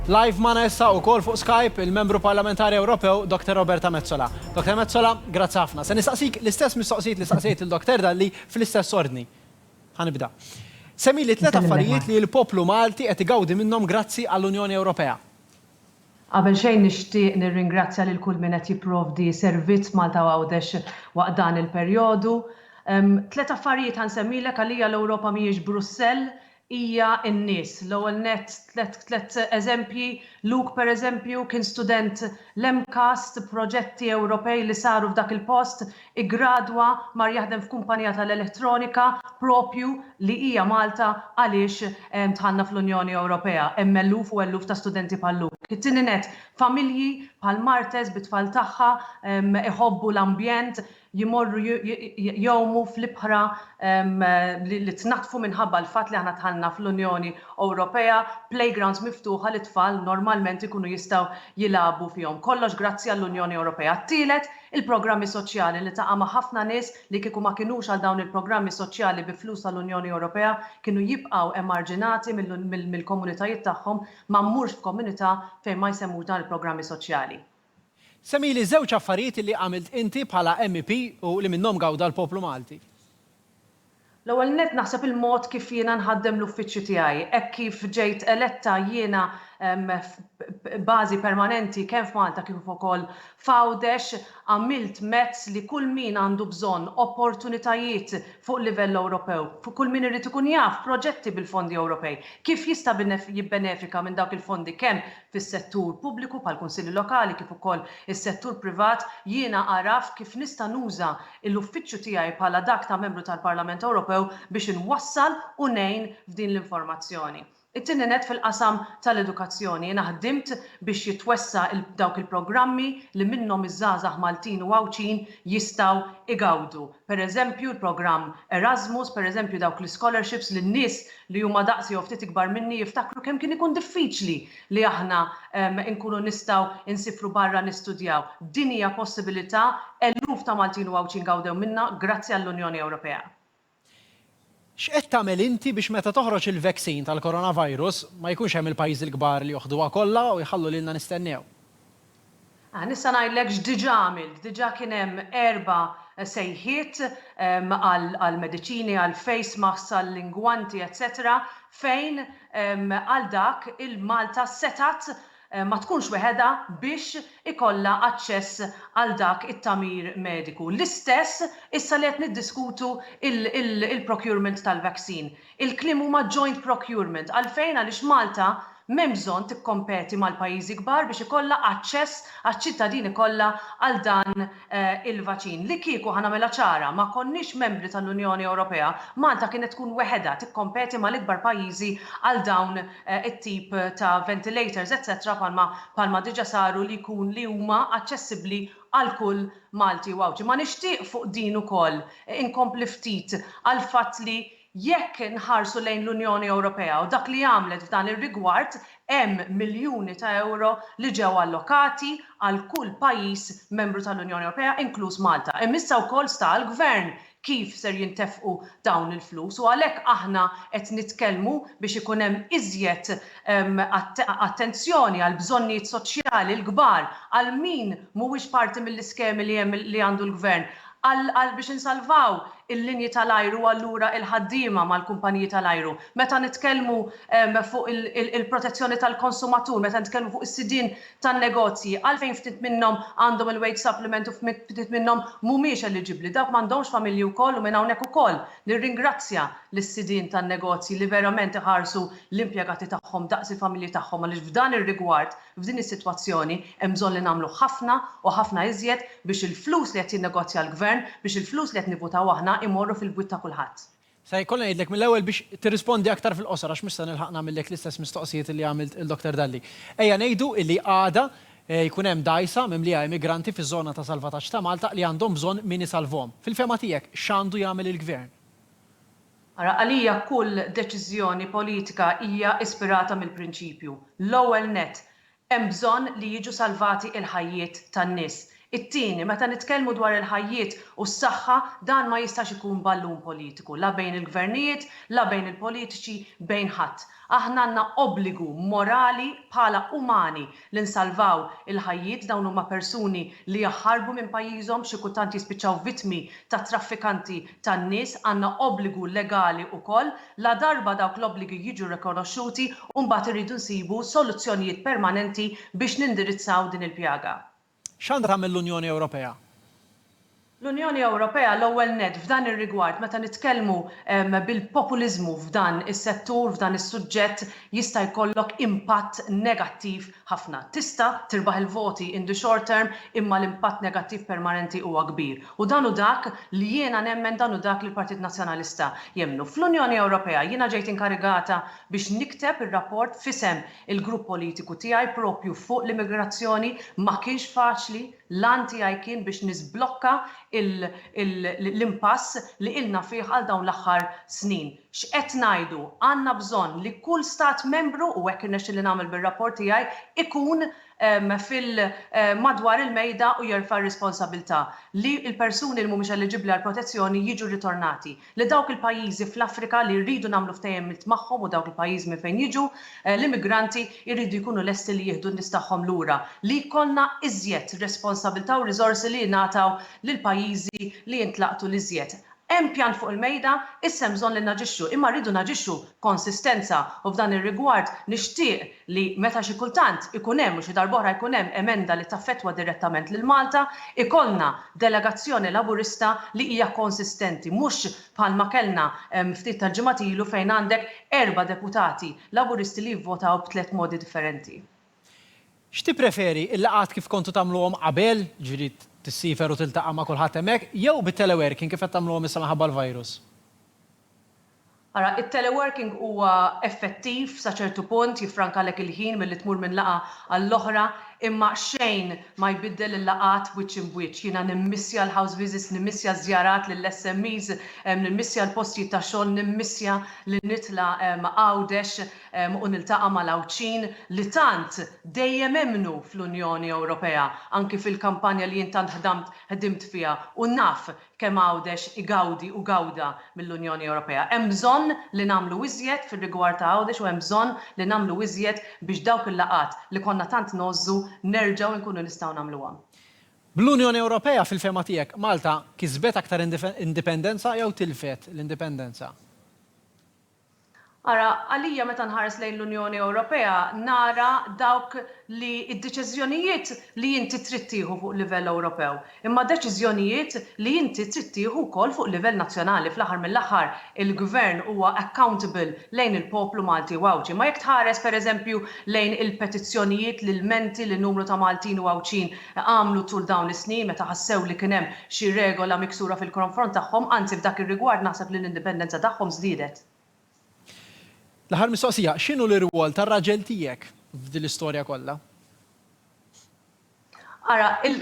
Live magħna issa wkoll fuq Skype il-Membru Parlamentari Ewropew Dr. Roberta Metsola. Dr. Metsola, grazzi ħafna. Se nistaqsik l-istess mistoqsijiet li staqsejt lil Dr. Dalli fl-istess ordni. Ħa nibda. Semmili tliet affarijiet li l-poplu Malti qed igawdi minnhom grazzi għall-Unjoni Ewropea. Qabel xejn nixtieq nirringrazzja lil kull min qed jipprovdi servizz Malta u Għawdex waqt dan il-perjodu. Tliet affarijiet ħa nsemmilek, għalija l-Ewropa mhijiex Brussell, hija n-nies. L-ewwel nett tliet tliet eżempji, Luke pereżempju kien student l-MCAST, proġetti Ewropej li saru f'dak il-post, iggradwa, mar jaħdem f'kumpanija tal-elettronika proprju li hija Malta għaliex dħalna fl-Unjoni Ewropea. Hemm eluf u eluf ta' studenti bħal Luke. It-tieni nett, familji bħal Martes bit-tfal tagħha iħobbu l-ambjent, jmorru jgħumu fl-ibħra li tnaddfu minħabba l-fatt li aħna dħalna fl-Unjoni Ewropea, playgrounds miftuħa li t-tfal normalment ikunu jistgħu jilagħbu fihom. Kollox grazzi għall-Unjoni Ewropea. Tielet, il-programmi soċjali, niltaqa' ma' ħafna nies li kieku ma kinux għal dawn il-programmi soċjali bi flus tal-Unjoni Ewropea kienu jibqgħu emarġinati mill-komunitajiet tagħhom, ma mmurx f'komunità fejn ma jsemmux dawn il-programmi soċjali. Semmili żewġ affarijiet li għamilt inti bħala MEP u li minnhom gawda l-poplu Malti. L-ewwel nett naħseb il-mod kif jiena nħaddem l-uffiċċju tiegħi. Hekk kif ġejt eletta jiena b'bażi permanenti kemm f'Malta kif ukoll f'Għawdex, għamilt mezz li kull min għandu bżonn opportunitajiet fuq livell Ewropew, kull min irid ikun jaf proġetti bil-fondi Ewropej, kif jista' jibbenefika minn dawk il-fondi kemm fis-settur pubbliku bħall-kunsilli lokali kif ukoll is-settur privat, jiena għaraft kif nista' nuża l-uffiċċju tiegħi bħala dak ta' Membru tal-Parlament Ewropew biex inwassal u ngħin f'din l-informazzjoni. It-tieni nett fil-qasam tal-edukazzjoni, jiena ħdimt biex jitwessa' dawk il-programmi li minnhom iż-żgħażagħ Maltin u Għawdxin jistgħu igawdu. pereżempju l-programm Erasmus, pereżempju dawk l-ischolerships li n-nies li huma daqsi jew ftit ikbar minni jiftakru kemm kien ikun diffiċli li aħna nkunu nistgħu nsifru barra nistudjaw. Din hija possibilità eluf ta' Maltin u Għawdxin gawdew minnha grazzi għall-Unjoni Ewropea. X'qed tagħmel inti biex meta toħroġ il-vaccine tal-coronavirus ma jkunx hemm il-pajjiżi l-kbar li joħduha kollha u jħallu lilna nistennew? Ah, nista' ngħidlek x'diġà għamilt. Diġà kien hemm erba' sejħiet għall-mediċini, għall-face masks, għall-ingwanti etc. Fejn għal dak il-Malta setgħet ma tkunx weħedha biex ikollha aċċess għal dak it-tagħmir mediku. L-istess issa li qed niddiskutu l-procurement tal-vaccine. Il-kliem huma joint procurement. Għalfejn? Għaliex Malta m'hemm bżonn tikkompeti mal-pajjiżi kbar biex ikollha aċċess għaċ-ċittadini kollha għal dan il-vaċin. Li kieku, ħa nagħmilha ċara, ma konniex membri tal-Unjoni Ewropea, Malta kienet tkun weħedha tikkompeti mal-ikbar pajjiżi għal dawn it-tip ta' ventilators etc bħalma bħalma diġa saru li jkun li huma aċċessibbli għal kull Malti u Għawdxi. Ma nixtieq fuq din ukoll inkompli ftit għall-fatt li Jekk inħarsu lejn l-Unjoni Ewropea u dak li għamlet f'dan ir-rigward, hemm miljuni ta' ewro li ġew allokati għal kull pajjiż membru tal-Unjoni Ewropea, inkluż Malta. Hemm issa wkoll sta għall-Gvern kif ser jintefqu dawn il-flus u għalhekk aħna qed nitkellmu biex ikun hemm iżjed attenzjoni għall-bżonnijiet soċjali l-kbar, għal min mhuwiex parti mill-iskemi li hemm li għandu l-Gvern. Għal biex insalvaw il-linji tal-ajru u allura il-ħaddiema mal-kumpaniji tal-ajru. Meta nitkellmu fuq il-protezzjoni tal-konsumatur, meta nitkellmu fuq is-sidien tan-negozji, għalfejn ftit minnhom għandhom il-wage supplement u ftit minnhom mhumiex eliġibbli? Dawk m'għandhomx familji wkoll? U minn hawnhekk ukoll nirringrazzja lis-sidien tan-negozji li verament iħarsu l-impjegati tagħhom daqs il-familji tagħhom għaliex f'dan ir-rigward F'din is-sitwazzjoni hemm bżonn li nagħmlu ħafna u ħafna iżjed biex il-flus li qed jinnegozja l-Gvern, biex il-flus li qed nivvutaw aħna imorru fil-bwiet ta' kulħadd. Se jkolli ngħidlek mill-ewwel biex tirrispondi aktar fil-qosor għax mhux se nilħaq nagħmillek l-istess mistoqsijiet li għamilt lil Dr. Dalli. Ejja ngħidu li għada jkun hemm dgħajsa mimlija immigranti fiż-żona ta' salvataġġ ta' Malta li għandhom bżonn min isalvhom. Fil-fehma tiegħek x'għandu jagħmel il-Gvern? Ara, għalija kull deċiżjoni politika hija ispirata mill-prinċipju, l-ewwel nett, hemm bżonn li jiġu salvati l-ħajjiet tan-nies. It-tieni, meta nitkellmu dwar il-ħajjiet u s-saħħa, dan ma jistax ikun ballun politiku, la bejn il-gvernijiet, la bejn il-politiċi, bejn ħadd. Aħna għandna obbligu morali bħala umani li nsalvaw il-ħajjiet, dawn huma persuni li jaħarbu minn pajjiżhom, xi kultant jispiċċaw vittmi ta' traffikanti tan-nies, għandna obbligu legali wkoll, ladarba dawk l-obbligi jiġu rikonoxxuti, mbagħad irridu nsibu soluzzjonijiet permanenti biex nindirizzaw din il-pjaga. X'għandha tagħmel l-Unjoni Ewropea? L-Unjoni Ewropea, l-ewwel nett, f'dan ir-rigward, meta nitkellmu bil-populiżmu f'dan is-settur, f'dan is-suġġett, jista' jkollok impatt negattiv ħafna. Tista' tirbaħ il-voti in the short term, imma l-impatt negattiv permanenti huwa kbir. U dan hu dak li jiena nemmen, dan hu dak li l-Partit Nazzjonalista jemmnu. Fl-Unjoni Ewropea, jiena ġejt inkarigata biex nikteb ir-rapport f'isem Il-grupp politiku tiegħi proprju fuq l-immigrazzjoni ma kienx faċli, l-għan tiegħi kien biex niżblokka l-impass li ilna fih għal dawn l-aħħar snin. X'qed ngħidu? Għandna bżonn li kull Stat Membru, u hekk irnexxieli nagħmel bir-rapport tiegħi, ikun fil madwar il-mejda u jerfa' r-responsabilità li l-persuni li mhumiex eliġibbli għall-protezzjoni jiġu rritornati. li dawk il-pajjiżi fl-Afrika li rridu nagħmlu ftehimiet magħhom u dawk il-pajjiżi minn fejn jiġu l-immigranti jridu jkunu lesti li jieħdu n-nies tagħhom lura, li jkollna iżjed responsabilità u riżorsi li jingħataw lill-pajjiżi li jintlaqtu l-iżjed. Hemm pjan fuq il-mejda, issa hemm bżonn li naġixxu, imma rridu naġixxu b'konsistenza u f'dan ir-rigward nixtieq li meta xi kultant ikun hemm u xi darb'oħra jkun hemm emenda li taffettwa direttament lil Malta, ikollna delegazzjoni Laburista li hija konsistenti, mhux bħalma kellna ftit tal-ġimgħat ilu fejn għandek erba' deputati Laburisti li jivvotaw b'tliet modi differenti. X'tippreferi, il-laqgħat kif kontu tagħmluhom qabel, jiġifieri tissiefer u tiltaqa' ma' kulħadd hemmhekk, jew bit-teleworking kif qed tagħmluhom issa minħabba l-virus? Ara, it-teleworking huwa effettiv sa ċertu punt, jiffrankalek il-ħin milli tmur minn laqgħa għall-oħra, imma xejn ma jbiddel il-laqgħat wiċċ imb wiċċ. Jiena nimmissja l-house visits, nimmissja ż-żjarat lill-SMEs, nimmissja l-postijiet ta' xogħol, nimmissja li nitla' Għawdex u niltaqa' mal-Għawdxin li tant dejjem emmnu fl-Unjoni Ewropea, anki fil-kampanja li jien tant ħdamt ħdimt fiha u naf kemm Għawdex igawdi u gawda mill-Unjoni Ewropea. Hemm bżonn li nagħmlu iżjed fir-rigward ta' Għawdex u hemm bżonn li nagħmlu iżjed biex dawk il-laqgħat li konna tant ngħożżu nerġgħu nkunu nistgħu nagħmluhom. Bl-Unjoni Ewropea, fil-fehma tiegħek, Malta kisbet aktar indipendenza jew tilfet l-indipendenza? Ara, għalija meta nħares lejn l-Unjoni Ewropea nara dawk li d-deċiżjonijiet li inti trid tieħu fuq livell Ewropew, imma deċiżjonijiet li inti trid tieħu wkoll fuq livell nazzjonali. Fl-aħħar mill-aħħar il-Gvern huwa accountable lejn il-poplu Malti u Għawdxi. Imma jekk tħares pereżempju lejn il-petizzjonijiet, l-ilmenti li numru ta' Maltin u Għawdxin għamlu tul dawn is-snin meta ħassew li kien hemm xi regola miksura fil-kronfront tagħhom, anzi f'dak ir-rigward naħseb li l-indipendenza tagħhom żdiedet. L-aħħar mistoqsija, x'inhu l-irwol tar-raġel tiegħek f'din l-istorja kollha? Ara, il,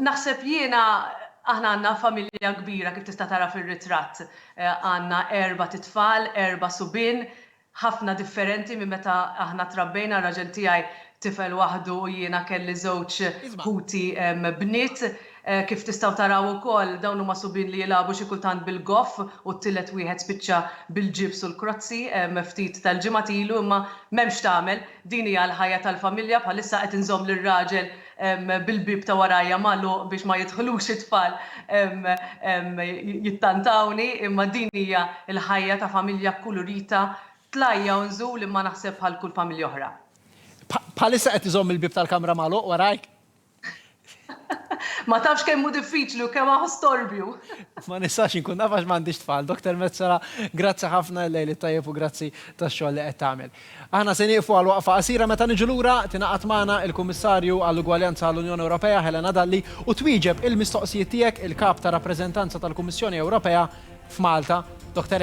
naħseb jiena, aħna għandna familja kbira kif tista' tara fir-ritratt, għandna erbat itfal, erba' subien, ħafna differenti minn meta aħna trabbejna, ir-raġel tiegħi tifel waħdu u jiena kelli żewġ ħuti bniet. Kif tistgħu taraw ukoll, dawn huma subien li jilagħbu xi kultant bil-goff u t-tielet wieħed spiċċa bil-ġibs u l-krozzi ftit tal-ġimgħat ilu imma m'hemm x'tagħmel, din hija l-ħajja tal-familja, bħalissa qed inżomm lir-raġel bil-bieb ta' warajja magħluq biex ma jidħlux it-tfal jittantawni imma din hija l-ħajja ta' familja kkulurita tlajja u nżul imma naħseb bħal kull familja oħra. Bħalissa qed iżomm il-bieb tal-kamra magħluq warajk? Ma tafx kemm hu diffiċli u kemm hu storbju! Ma nistax inkun naf għax m'għandix tfal. Doktor Metsola, grazzi ħafna, il-lejl it-tajjeb u grazzi tax-xogħol li qed tagħmel. Aħna se nieqfu għal waqfa qasira meta niġu lura tingħaqad magħna il-Kummissarju għall-Ugwaljanza għall-Unjoni Ewropea Helena Dalli u twieġeb il-mistoqsijiet tiegħek il-Kap ta' Rappreżentanza tal-Kummissjoni Ewropea f'Malta, Dottor